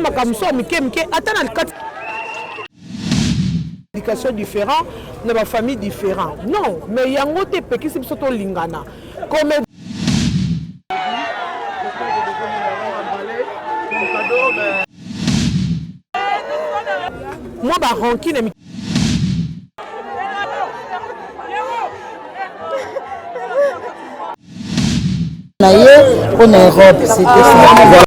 makambo so ya mike mike ata na kati éducation différent na bafamille différent non mais yango te epekisi biso tolingana comme mwa ba rancune ya na ye mpo na europe kasi tomanaka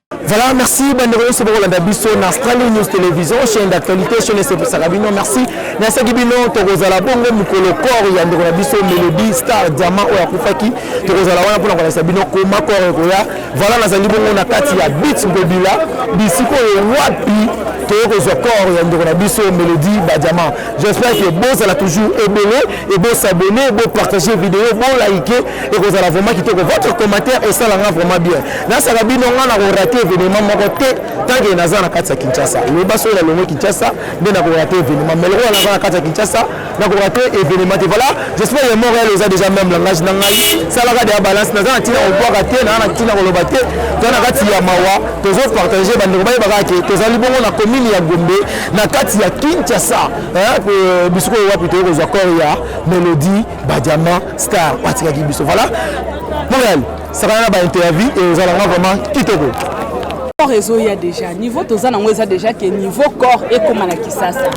Voilà, merci bandeko nyonso bokolanda biso na Strali News Television, chaîne d'actualité, chaîne esepesaka bino. Merci. Nasaki bino tokozala bongo mokolo corps ya ndeko na biso Melody Star Diamant oyo akufaki. Tokozala wana mpona kolakisa bino koma corps ekoya. Voilà, nazali bongo na kati ya Beats Bobila, bisiko oyo wapi toye kozwa corps ya ndeko na biso Melody Badiamant. J'espère que bozala toujours ebele et bosabonner, bopartager video, bolike ekozala vraiment kitoko votre commentaire esala nga vraiment bien nasaka bino nga na korate événement moko te tanke naza na kati ya kinshasa loba soki nalongo kinshasa nde na korate événement mais lokola naza na kati ya kinshasa na korate événement te voilà j'espère ya montréal oza déjà même langage na ngai salaka deya balance naza na ntina kobwaka te naa na ntina koloba te to na kati ya mawa tozo partage bandeko bayebaka ke tozali bongo na commune ya gombe na kati ya kinshasa bisiko wapi toyei kozwa corps ya melodie ba diamant star batikaki biso voilà montréal sakana na baintervie e ozala nga vraiment kitoko corps ezoya déjà niveau toza nango eza déjà ke niveau corps ekóma na kisasa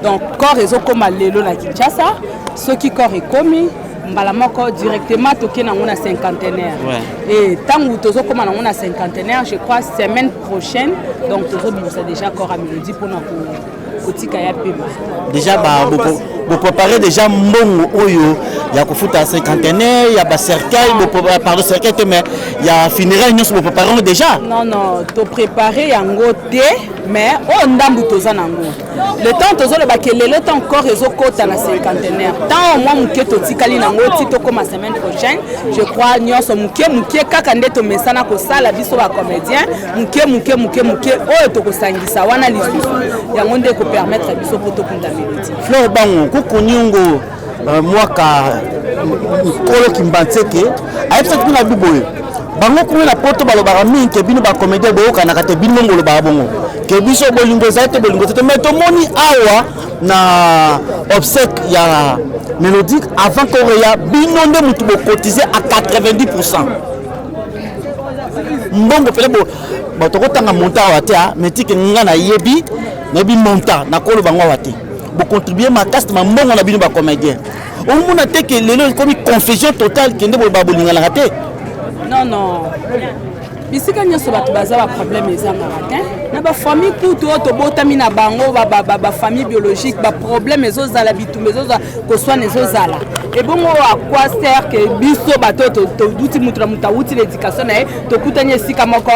donc corps ezokóma lelo na kinshasa soki corps ekomi mbala moko directement toke nango na cinquantenaire e ntango tozokóma nango na cinquantenaire je crois semaine prochaine donc tozobimisa déjà corps ya melodie mpona ko kotika ya pema deja bopropare deja mbongo oyo ya kofuta cinquantenaire ya bacercueil euh, pardon cercueil te mais ya funéraire nyonso bopropare yango deja non non toprépare yango te mais oyo oh, ndambu toza nango le temps tozoloba ke lelo temps corps ezokota na cinquantenaire temps omwa moke totikali nango ti tokóma semaine prochaine je crois nyonso moke moke kaka nde tomesana kosala biso bacomédien moke moke moke moke oyo tokosangisa wana lisusu yango nde ekopermettre biso mpo tokunda melodi fleur bango kokoniongo euh, mwaka nkolo kimbanseke ayebisaki mpe na bi boye bango kuna na poto balobaka mingi ke bino bacomédien boyokanaka te bino mongo olobaka bongo ke biso bolingo ezali te bolingo te te mai tomoni awa na obsèque ya mélodique avant koreya bino nde motu bocotize a 90 pourcent mbongo pele bo bato okotanga montant awa te ah, mais tike nga nayebi nayebi montant nakoloba ngo awa te bocontribue makasi na mbongo na bino bacomédien omona te ke lelo ekomi confusion totale kende boloba bolinganaka te non non bisika nyonso bato baza baproblème ezangaka te na bafamille kutu oyo tobotami na bango bafamille biologique baproblème ezozala bitumba ezozala koswana ezozala ebongo à quoi sert que biso bato toduti moto na moto awuti na éducation na ye tokutani esika moko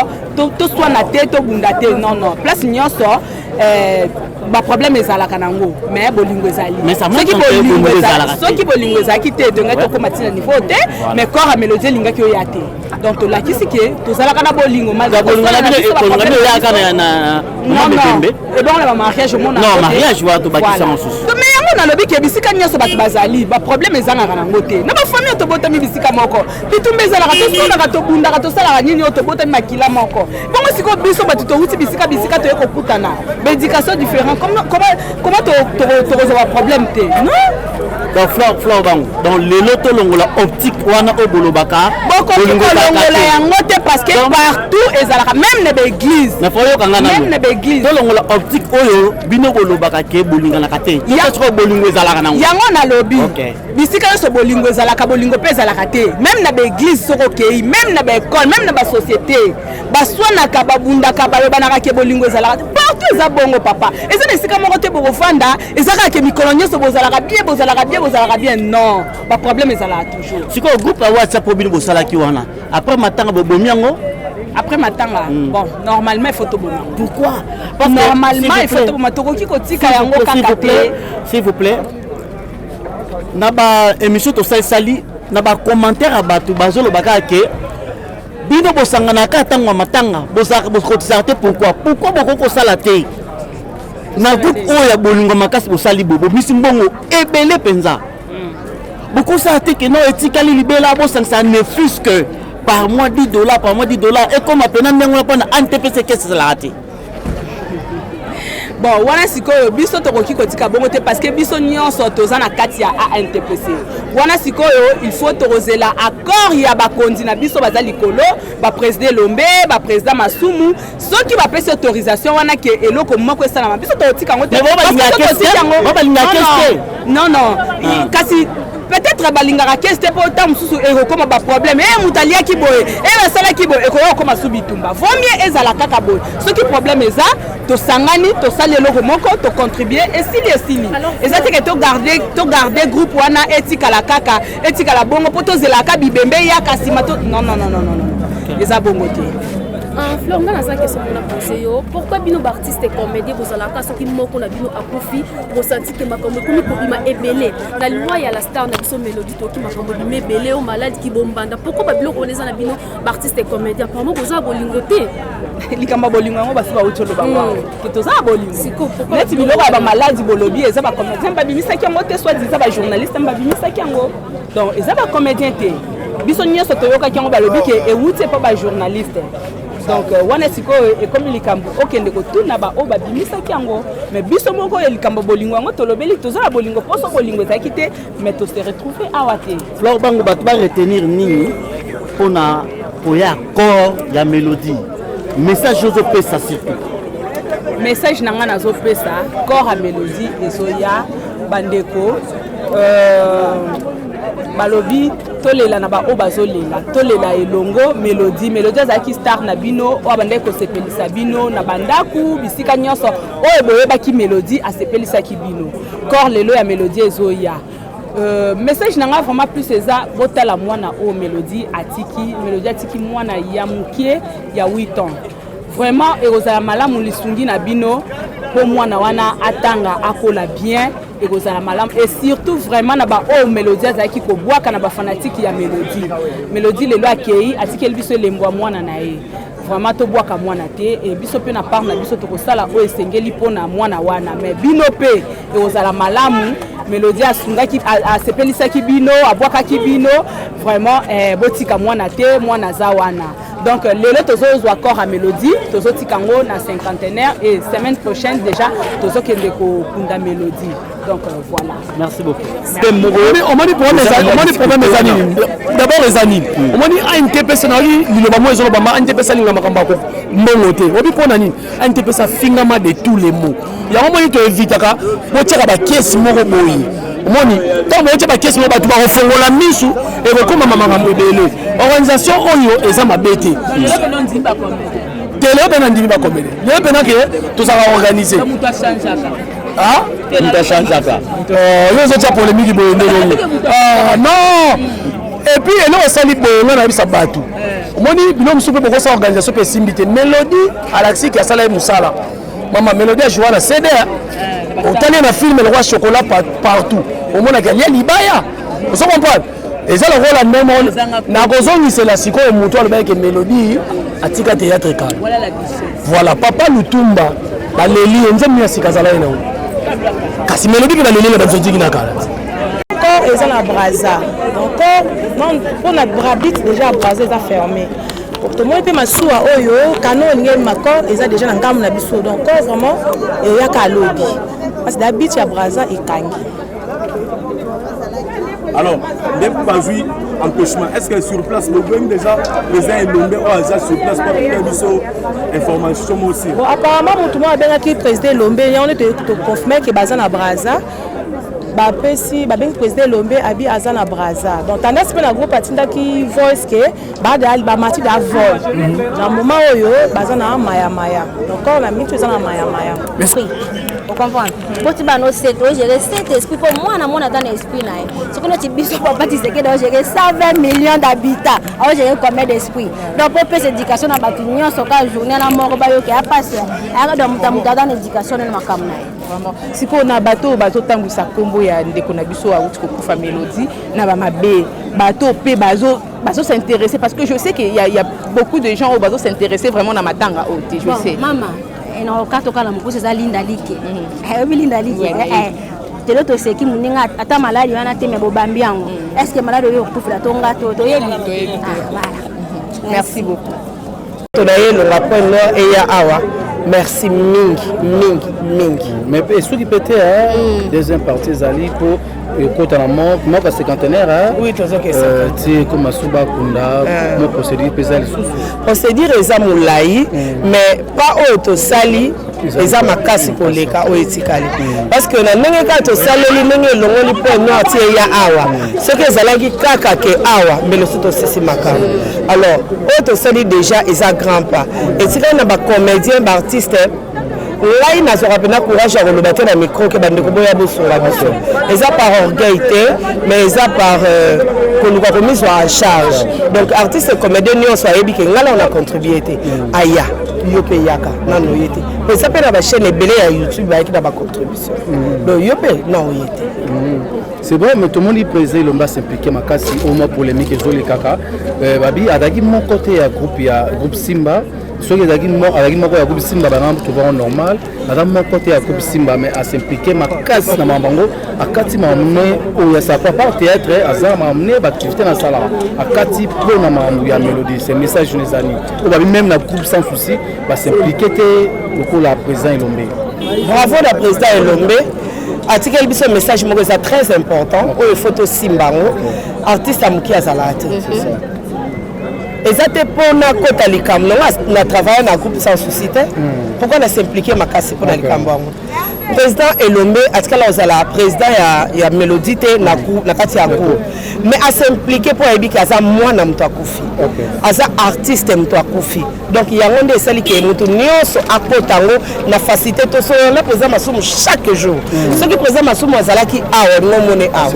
toswana te tobunda te non non place nyonso eh, baproblème ezalaka nango mais bolingo ezali soki bolingo ezalaki te tongaki tokóma ntina niveau te mais corps ya mélodie elingaki oya te donc tolakisi ke tozalaka na bolingo malgré ebongo na bamariage omona non mariage wana tobakisa mosusu mais yango nalobi ke bisika nyonso bato bazali baproblème ezangaka nango te na bafami oyo tobotami bisika moko bitumba ezalaka tosonaka tobundaka tosalaka nini oyo tobotami makila moko bongo sikoyo biso bato towuti bisika bisika toye kokutana baéducation différent comment tokozwa baproblème te non donc flore flore bango donc lelo tolongola optique wana oyo bolobaka bokoki kolongola yango te parce que partout ezalaka même na baeglise na foyoka nga même na baeglise tolongola optique oyo bino bolobaka ke bolinganaka te sikoyo bolingo ezalaka nango yango nalobi bisika nyonso bolingo ezalaka bolingo mpe ezalaka te même na baeglise soki okei même na baekole même na basociété baswanaka babundaka balobanaka ke bolingo ezalaka partout eza bongo papa eza na esika moko te bokofanda eza kaka ke mikolo nyonso bozalaka bien bozalaka bien bozalaka bien non baproblème ezalaka toujours sikoyo groupe ya whatsapp oyo bino bosalaki wana après matanga bobomi yango après matanga mm. bon normalement il faut toboma pourquoi Parce normalement il faut toboma tokoki kotika yango kaka te s'il vous plaît na ba émission tosalisali na ba commentaire ya bato bazoloba kaka ke bino bosanganaka kaka ntango ya matanga bozalaka bokotisaka te pourkoi pourkoi bokoki kosala te na groupe oyo ya bolingo makasi bosali bo bomisi mbongo ebele mpenza hmm. bokosala te keno etikali libela bosangisa ne fus que par mois 10 dollars par mois 10 dollars ekoma mpena ndenge wana mpona antpc kesi ezalaka te bon wana sikoyo biso tokoki kotika bongo te parce que biso nyonso toza na kati ya antpc wana sikoyo il faut tokozela accord ya bakonzi na biso baza likolo bapresident elombe bapresident masumu soki bapesi autorisation wana ke eloko moko esalama biso tokotika yango te non non ah. kasi peut-être balingaka kesi te mpo ntango mosusu ekokoma baproblème eye eh, moto aliaki boye eye eh, asalaki boye ekoya kokoma su bitumba vaut mieux ezala kaka boye soki problème eza tosangani tosali eloko moko tocontribue esili esili eza teke togarde groupe wana etikala kaka etikala bongo mpo tozelaka bibembe eyaka nsima to non non non non non eza bongo te ah, fleur nga naza question mpona pose yo pourkui bino baartiste comédie bozalaka soki moko na bino akufi bosanti te makambo ekomi kobima ebele na loi ya la star na biso melodie toki makambo bima ebele o malade kibombanda pourkoi babiloko wana eza na bino baartiste e comédien parmo boza ya bolingo te likambo ya bolingo yango basi bauti oloba hmm. ngo ke toza ya bolingo neti biloko ya bamaladi bolobi eza bacomédien babimisaki yango te soit eza bajournaliste babimisaki yango donc eza bacomédien te biso nyonso toyokaki yango balobi ke ewuti epa bajournaliste donc euh, wana sikoyo ekomi likambo okende kotuna baoyo babimisaki yango mais biso moko ya likambo bolingo yango tolobeli toza na bolingo mposo bolingo ezalaki te mais tose retrouve awa te flor bango bato baretenir nini mpo na koya accord ya melodie message ozopesa surtout message na ngai nazopesa corps ya melodie ezoya bandeko euh, balobi tolela na baoyo bazolela tolela elongo melodi melodi azalaki star na bino oyo abandaki kosepelisa bino na bandako bisika nyonso oyo boyebaki melodi asepelisaki bino kor lelo ya melodi ezoya Euh, message na nga vraiment plus eza botala mwana oyo melodi atiki melodi atiki mwana ya moke ya 8 ans vraiment ekozala malamu lisungi na bino mpo mwana wana atanga akola bien ekozala malamu et surtout vraiment na baoyo melodie azalaki kobwaka na bafanatike ya melodie melodie lelo akei atikeli biso elembo ya mwana na ye vraiment tobwaka mwana te e biso mpe na part na biso tokosala oyo esengeli mpo na mwana wana mais bino mpe ekozala malamu melodie asungaki asepelisaki bino abwakaki bino vraiment eh, botika mwana te mwana aza wana donc lelo tozozwa corps ya mélodie tozotika yango na cinquantenaire et semaine prochaine déjà tozokende kokunda mélodie donc euh, voilà merci beaucoup omoni problème eza nini d'abord eza nini omoni ankepesa nayoki liloba mo ezolobama ankepesa linga makambo yako mbongo te obi mpo na nini ndps afingama de tous les mots yango moni toevitaka botyaka bakesi moko boye omoni ntango boyotya bakesi moko bato bakofongola misu ekokomama makambo ebele organisation oyo eza mabe te te lelo mpe nandimi bakomele lelo mpe nake tozalaka organise mutachangeaka yo ozotya polemiki boye ndenge ah, non et puis eloko esali boye nga nayebisa bato omoni bino mosusu mpe bokosa organisation mpe esimbi te melodi alaksiki asala ye mosala mama melodi ajoua na cd otali na filme lokola chocolat partout omonaka lia libaya ozo comprendre eza lokola ndemo nakozongisela sikoyo motu alobaki ke melodi atika théâtre kala voilà papa lutumba baleli ye nzambe ya sika azala ye nango kasi melodi mpe baleli na bazotiki na kala corps eza na braza donc corps mpo na brabit déjà braza eza fermé tomoni mpe masuwa oyo kano olingi ma corps eza déjà na ngambo na biso donc corps vraiment eyaka alobi parce da bit ya braza ekangi alors nde bazwi empêchement est ce que sur place bobemi déjà président elombe oyo aza sur place mpo apesa biso information mo aussi apparemment motu moko abengaki président elombe yango nde toconfirme ke baza na braza bapesi babengi président elombe abi aza na braza donc tendance mpe na groupe atindaki voice ke badal bamati da vol mhm. na moment oyo baza na mayamaya donc corps na mitu eza na mayamaya ocomprendre boti bana osete ogere cet esprit mpo mwana mwana ata na esprit na ye soki noti biso papa tisekede ogere 120 million d'habitat aogere combien d'esprit donc mpo opesa éducation na bato nyonso ka journée na moko bayoka ya pasi ayaka donc moto ya moto ata na éducation nene makambo na ye Vraiment. Sikoyo na bato oyo bazotambwisa nkombo ya ndeko na biso awuti kokufa Melodie na bamabe bato mpe bazo bazo s'intéresser parce que je sais qu'il y, a- il y a beaucoup de gens oyo bazo s'intéresser vraiment na matanga oyo te je Bon, sais mama eh, na okato kala mokuse eza linda like ayebi linda like Ouais, eh, eh. telo toseki moninga at- ata maladi wana te me bobambi yango estce maladi oyo okutufela to nga to toyebi Toyebi te. Ah, voilà. merci beaucoup to na ye elonga point nord eya awa merci mingi mingi mingi mais mpe esuki mpe te hmm. deuxième partie ezali mpo ekota na moko cinquantenaire euh, ti ekoma suba akunda ah. mo procédure mpe eza lisusu procédure eza molai hmm. mais pas oyo tosali eza makasi koleka oyo etikali parceke na ndenge kaka tosaleli ndenge elongoli mpo nord ti eya awa soki ezalaki kaka ke awa mbele so tosisi makambo alors oyo tosali déjà eza grand pas etikali na bacomédien baartiste ngai nazwaka mpenza courage ya koloba te na micro ke bandeko boya bosunga biso eza par orgueil te mais eza par euh, koluka komizwa en charge donc artiste comédien nyonso ayebi ke ngai nao na contribue te aya yo mpe eyaka nano oye te po eza mpe na bachaîne ebele ya youtube bayaki na bacontribution mm. donc yo mpe na oye te mm. c'est vrai mais tomoni président elomba s'implike makasi au moins polémique ezolekaka euh, babi azalaki moko te ya groupe ya groupe simba soki ezalaki moko ya groupe simba bana tovango normal aza moko te ya groupe simba mais asimplike makasi na makambo yango akati mamne oyo ya sapa par théâtre aza mamne baactivité nasalaka akati mpo na makambo ya mélodie se message nezani oyo babi meme na groupe sans souci basimplike te lokola président elombe bravo na président elombe atikeli biso message moko eza très important oyo faut tosimba yango artiste ya moke azalaka te eza te mpo nakota likambo nango na travaille na groupe sans souci te pourkui na s'implike makasi mpo na likambo yango président elombe atikala kozala président ya, ya mélodie te na, ku, na kati ya cour mais asimplike mpo ayebi ke aza mwana moto akufi okay. aza artiste moto akufi donc yango nde esali ke moto nyonso akota yango na facilité to soyona président masumu chaque jour mm. soki président masumu azalaki awa olingo omone awa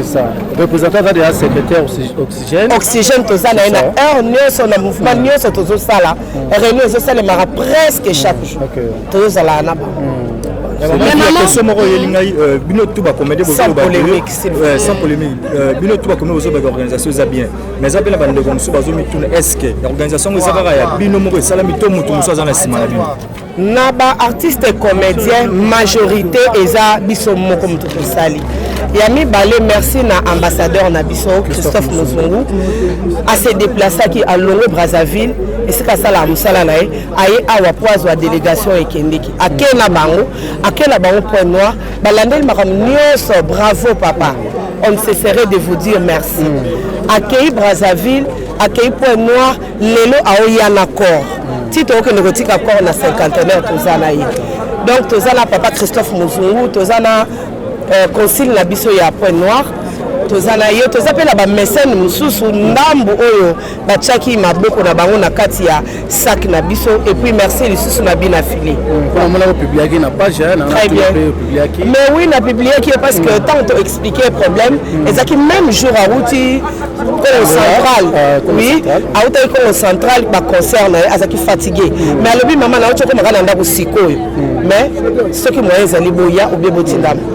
représentant aza deja secrétaire oxygène oxygène toza na ye na heure nyonso na mouvement mm. nyonso tozosala mm. réunion ezosalemaka presque chaque jour okay. tozozala na bango question moko oyeli ngai euh, bino tout bacomédie sans polémique euh, bino tout bacomédie bozobaka organisation eza bien mais eza mpe na bandeko mosusu bazomituna est ce que organisation yango eza kaka ya bino moko esalami to moto mosusu aza na nsima na bino na baartiste comédien majorité eza biso moko moto tosali ya mibale merci na ambassadeur na biso christophe mozungu ase deplaceaki alongwe brazzaville esika asalaka mosala na ye aye awa mpo azwa delegation ekendeki ake na bango ake na bango point noir balandeli makambo nyonso bravo papa on ne cesserait de vous dire merci mm. akei brazzaville akei point noir lelo aoya na corps mm. ti tokokende kotika corps na cinquantenaire toza na ye donc toza na papa christophe mozungu toza na euh, concile na biso ya point noir toza na ye toza mpe na bamesene mosusu ndambu oyo batiaki maboko na bango na kati ya sac na biso et puis merci lisusu na bina fili mais oui na publiaki ye parce que mm. ntango to explique problème mm. ezalaki même jour awuti congo ah, central ah, oui awutaki congo central baconcert na ye azalaki fatigue mm. mais alobi mama na yo tiokomaka na ndako sikoyo mais soki moyen ezali boya obie botindama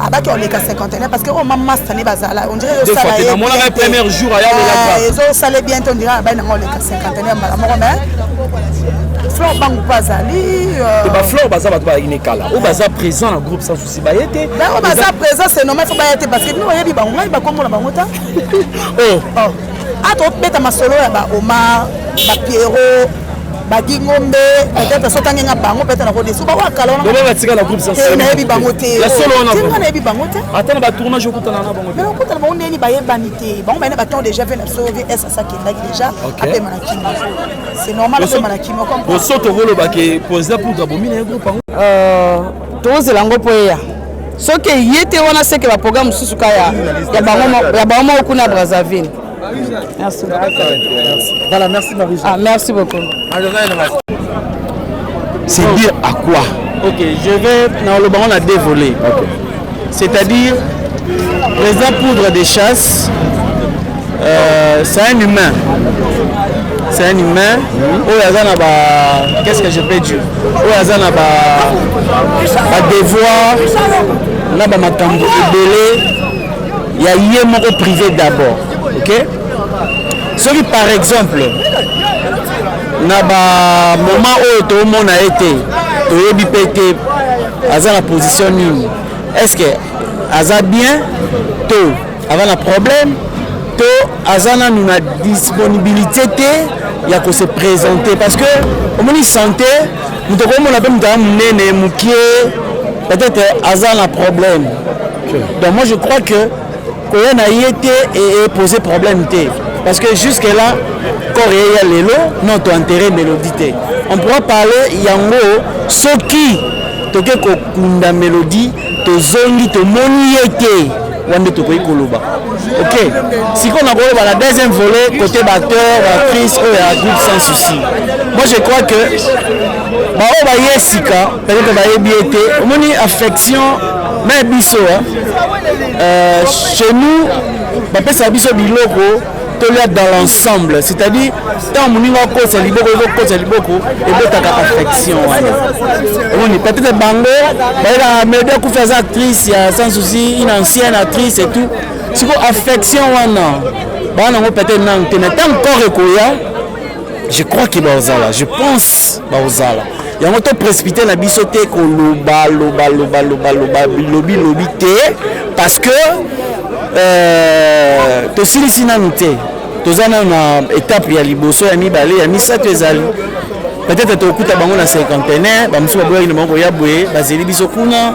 abaki oleka cinquantenaire parce que oyo oh, ma masta ne bazala ondiraezosalanamonaka premier jour ayaezosale bien te ondira abai nanga oleka cinquantenaire mbala moko mais flor bangu mpe azali euh, baflor baza bato bayaki ne kala oyo baza présent na groupe sans souci baye te baoyo baza présent c'est normal fo baya te parce que bino oyebi bango ngai bakomona bango ta oh. oh. a tobeta masolo ya ba omar ba pierrot badi ngombe peut-être soki ange nga bango peut-être nakodesu bango akala wanabatika na groupe eh, nayebi bango te nga nayebi bango te ata na batournage okutana na bango mais okutana bango ndeni bayebani te bango bayene baton déjà ve na biso vs asakendaki déjà apema na kima c'est normal apema na kima boso tokolobake président poudre abomi na ye groupe yango Tozela yango mpo eya soki eye te wana seke ba programme mosusu ka ya bango moko kuna Brazzaville. Merci beaucoup. Voilà, merci Marie. Ah, merci beaucoup. C'est dire à quoi Ok, je vais dans le banc on a dévolé. Ok. C'est-à-dire, président Poudre des Chasses, euh, c'est un humain. C'est un humain. Mmh. Oyo aza na ba qu'est-ce que je peux dire? Oyo aza na ba ba devoir na ba makambo ebele ya ye moko privé d'abord. OK? Soki par exemple na ba moment oyo toomona ye te toyebi mpe te aza na position nini est ce que aza bien to aza na problème to aza nanu na disponibilité te ya ko se présenter parce que omoni santé moto okomona mpe moto aza monene mokie peut-être aza na problème donc moi je crois que koya na ye te epose problème te parce que jusque là corps ye ya lelo non toenterre mélodie te on pourra parler yango soki toke kokunda mélodie tozongi tomoni ye te wana nde tokoki koloba ok sikoyo nakoloba na deuxième volet côté bacteur bactrice oyo ya groupe sans souci moi je crois que baoyo baye sika Peut-être bayebi ye te. Omoni affection na biso euh, chez nous bapesaka biso biloko tolia dans l'ensemble c'est-à-dire ntango moninga okosa liboko okokosa liboko ebotaka affection wana omoni peut-être bango bayelaka mede akufi aza actrice ya sans souci une ancienne actrice et tout sikoyo affection wana baa nango peut-être nanu te mais ntango corps ekoya je crois que baozala je pense baozala yango to précipité na biso te koloba loba loba loba loba bilobi lobi te parce que euh, tosilisi nanu te toza nanu na étape ya liboso ya mibale ya misato ezali peut-être tokokuta bango na cinquantenaire bamosusu baboyaki na bango koya boye bazeli biso kuna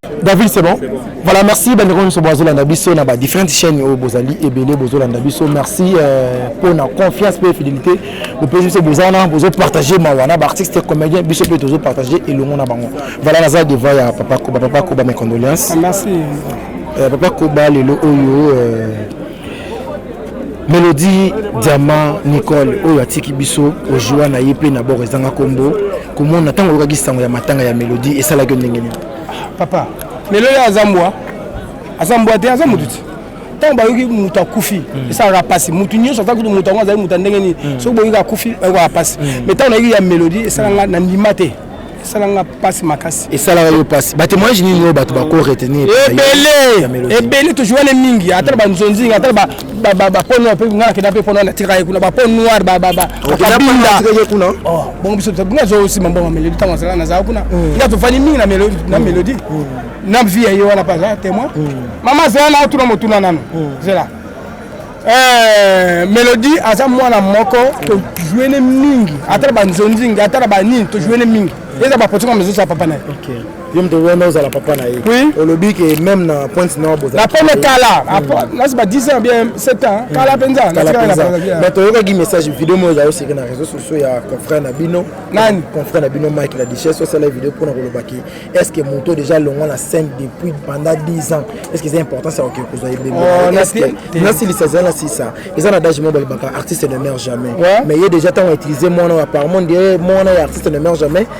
David c'est bon voilà merci bandeko nyonso bozolanda biso na ba différentes chaînes oyo bozali ebele bozolanda biso merci euh, mpo na confiance mpe fidélité bopesi biso boza wana bozopartage mawa na baartiste comédien biso mpe tozopartage elongo na bango voilà naza devant ya papa koba papa koba mes condoléances merci euh, papa koba lelo oyo euh, melodie diamant nicole oyo atiki biso ojua na ye mpe na boko ezanga nkombo komona ntango oyokaki sango ya matanga ya melodie esalaki yo ndenge nini papa lelo ye aza mbwa aza mbwa te aza motu ti ntango bayoki moto akufi hmm. esalaka mpasi moto nyonso ata kutu moto yango azali moto ya ndenge nini hmm. soki boyoki akufi bayokaa mpasi mai hmm. ntango nayoki ya melodi esalanga na ndima te esalanga mpasi makasi esalaka yo mpasi batemoignage nini oyo bato bako retenir ebele ebele tojuane mingi ata na banzonzinga ata ba ba ba pono pe ngana kenda pe pono na tira kuna ba pono noir ba ba ba kabinda kuna oh bon biso to bunga zo sima mbongo melodi tango zala na za kuna mm. nga to fani mingi na melodi na mm. melodi mm. na vie ye wana pa za témoin mama zela na tuna motuna nanu zela eh melodi aza mwana moko to jouer ne mingi atala ba nzonzinga atala ba nini to jouer ne mingi eza ba potinga mezo sa papa na okay yo moto wana ozala papa na ye oui. olobi ke meme na pointe nord bozalapone kala nasi ba 10 ans bien 7 ans hmm. kala mpenza mais toyokaki message video moko ezali oseke na réseau sociaux ya confrère na bino nani confrère na bino mike la duchesse osala video mpo na kolobaki est ce que moto déjà longwa na scène depuis pendant 10 ans est ce que eza importance ya kokende kozwa ebemnasilisa eza na sisa eza na dage moko balobaka artiste ne meurt jamais mais ye déjà ntango autilize mwana oyo apparemment nde mwana ya artiste ne meurt jamais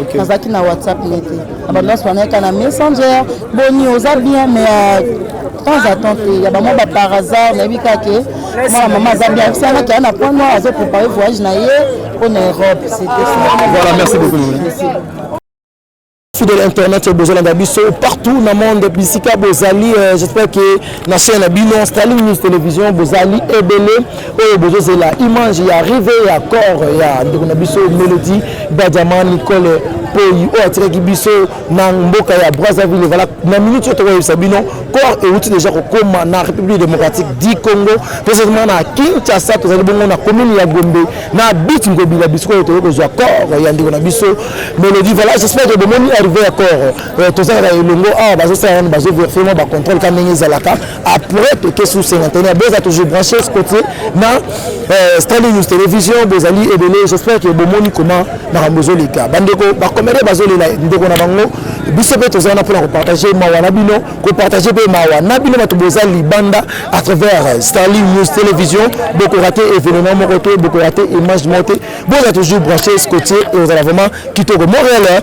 Okay. nazalaki na whatsapp ne te na badoas banayaka na messenger boni oza bien mais euh, temps à temps te ya bamwa bapar hasard nayebi kaka ke mwana mama aza bien ayebisi yango kea na point noir azo prépare voyage na ye mpo na europe c'était ça voilà merci beaucoup fidèle internet bozolanda biso partout na monde bisika bozali euh, j'espère que na chaîne na bino Starling News Television bozali ebele oyo bozozela image ya rive ya corps ya ndeko na biso Melody Badiama Nicole Poyi oyo atikaki biso na mboka ya Brazzaville voilà na minute oyo tokoyebisa bino corps euti déjà kokoma na République démocratique du Congo précisément na Kinshasa tozali bongo na commune ya Gombe na but Ngobila bisiko oyo toyei kozwa corps ya ndeko na biso Melody voilà j'espère que bomoni arrivé ya corps Eh, toza kaka elongo awa ah, bazosala nano bazoverifie mwa bacontrôle ka ndenge ezalaka après toke sous cinquantenaire boza toujours branché cotier na eh, standing news télévision bozali ebele j'espère ke bomoni comment makambo ezoleka bandeko bacomédien bazolela ndeko na bango biso mpe toza wana mpona kopartage mawa na bino kopartage mpe mawa na bino bato boza libanda à travers eh, starling news télévision bokorate événement moko te bokorate image moko te boza toujours branché cotier eozala vraiment kitoko montréal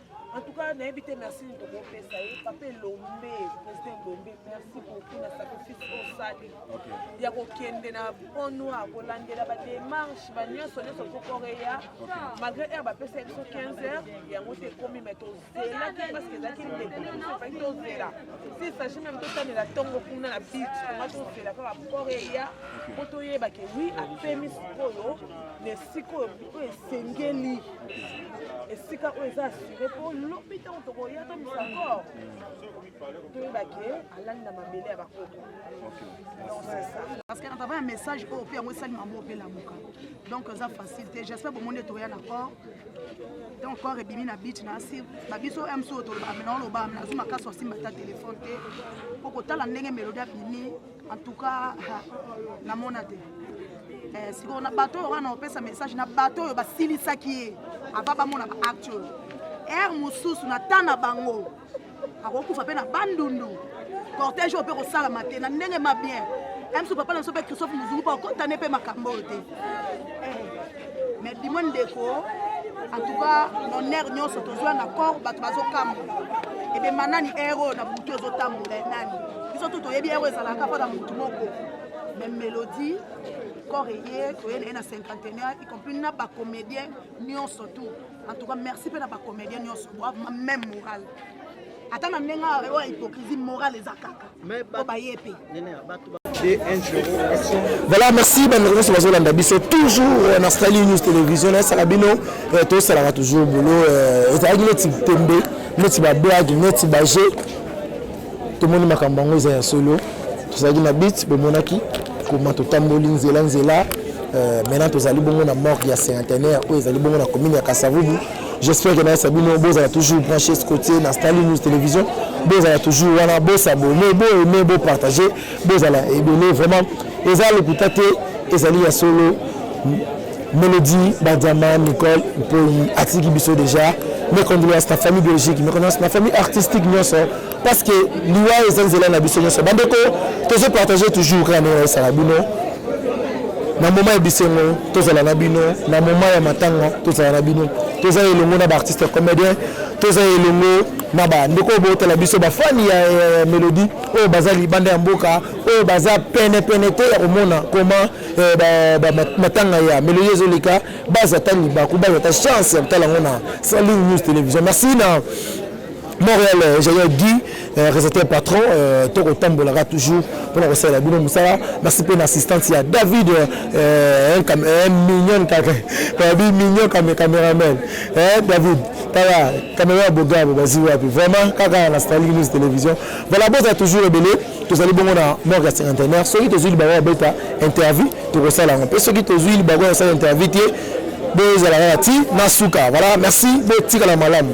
En tout cas, nayebi te merci nini tokopesa ye papa elombe président elombe merci beaucoup na sacrifice osali ya kokende na pont noir kolandela bademarche banyonso nyonso kokoreya malgré heure bapesa ye biso 15 heures yango te ekomi mai tozelaki parceke ezalaki ndekofaki tozela si sagi meme totanela ntongo kuna na bit tonga tozela kaka koreya mpo toyeba ke wi apemi sikoyo na esika oyo esengeli esika oyo eza asure mpo lobi ntango tokoya tomisa kor toyebake alali na mabele ya bakoko parce que natava ya message oyo mpe yango esali mambo mpe lamuka donc eza facile te j'espère bomoni ete oya na corps donc corps ebimi na bit na asi babiso mc oyo tolobaka mena oloba mena azwi makasi osimba ata telefone te mpo kotala ndenge melodi abimi en tout cas namona te eh, sikoyo na bato oyo wana opesa message na bato oyo basilisaki ye ava bamona baacte oyo ere mosusu na temps na bango akokufa mpe na bandundu cortège oyo mpe kosalama te na ndenge ma bien mso papa na biso mpe christophe mozungu mpo akotane mpe makambo oyo te eh. mais bimo ndeko en tout cas honneur nyonso tozwa na corps bato bazokamwa ebe manani ere oyo na butu ezotambola nani biso tu toyebi ere ezalaka mpo na motu moko me melodie corps eye toyeli ye na cinquantenaire y compris na bacomédien nyonso tout en tout cas merci mpe na bacomédien nyonso bwa même morale ata na ndenge oyo hypocrisie morale eza kaka po baye mpe voilà merci bandeko nyonso bazolanda biso toujours euh, na stali news télévision nayesaka bino euh, tosalaka toujours bolo euh, ezalaki neti tembe neti bablage neti baje tomoni makambo yango eza ya solo tozalaki na bit bomonaki koma totamboli nzela nzela maintenant tozali bongo na morgue ya centenaire oyo ezali bongo na commune ya kasavubu J'espère que nayesa bino bozala toujours branché scotier na Stanley News Télévision bozala toujours wana bosabone bo aime bo partager bozala ebele vraiment eza lokuta te ezali ya solo Mélodie Badiama Nicole Mpoyi atiki biso déjà mes condoléances na famille biologique mes condoléances na famille artistique nyonso parce que liwa eza nzela na biso nyonso bandeko tozo partage toujours kaka ndenge nayesa na bino na moma ya bisengo tozala na bino na moma ya matanga tozala na bino toza elongo na baartiste comédien toza elongo na bandeko oyo bootala biso bafani ya eh, melodie oyo baza libanda ya mboka oyo baza penepene te ya komona koma eh, matanga ya melodie ezoleka baza ta libaku baza ta chance ya kotala yango na saline news télévision merci na Montreal euh, ingénieur Guy euh, réalisateur patron euh, toko tambolaka toujours pona kosalela bino mosala merci mpe na assistante ya David mignon kabi mignon kame cameraman David tala camera ya bogabo bazi wapi vraiment kaka na Starlink News télévision voilà bozala toujours ebele tozali bongo na morgue ya cinquantenaire soki tozwi libango ya beta interview tokosala yango mpe soki tozwi libango ya kosala interview te bozala kaka ti na suka voilà merci botikala malamu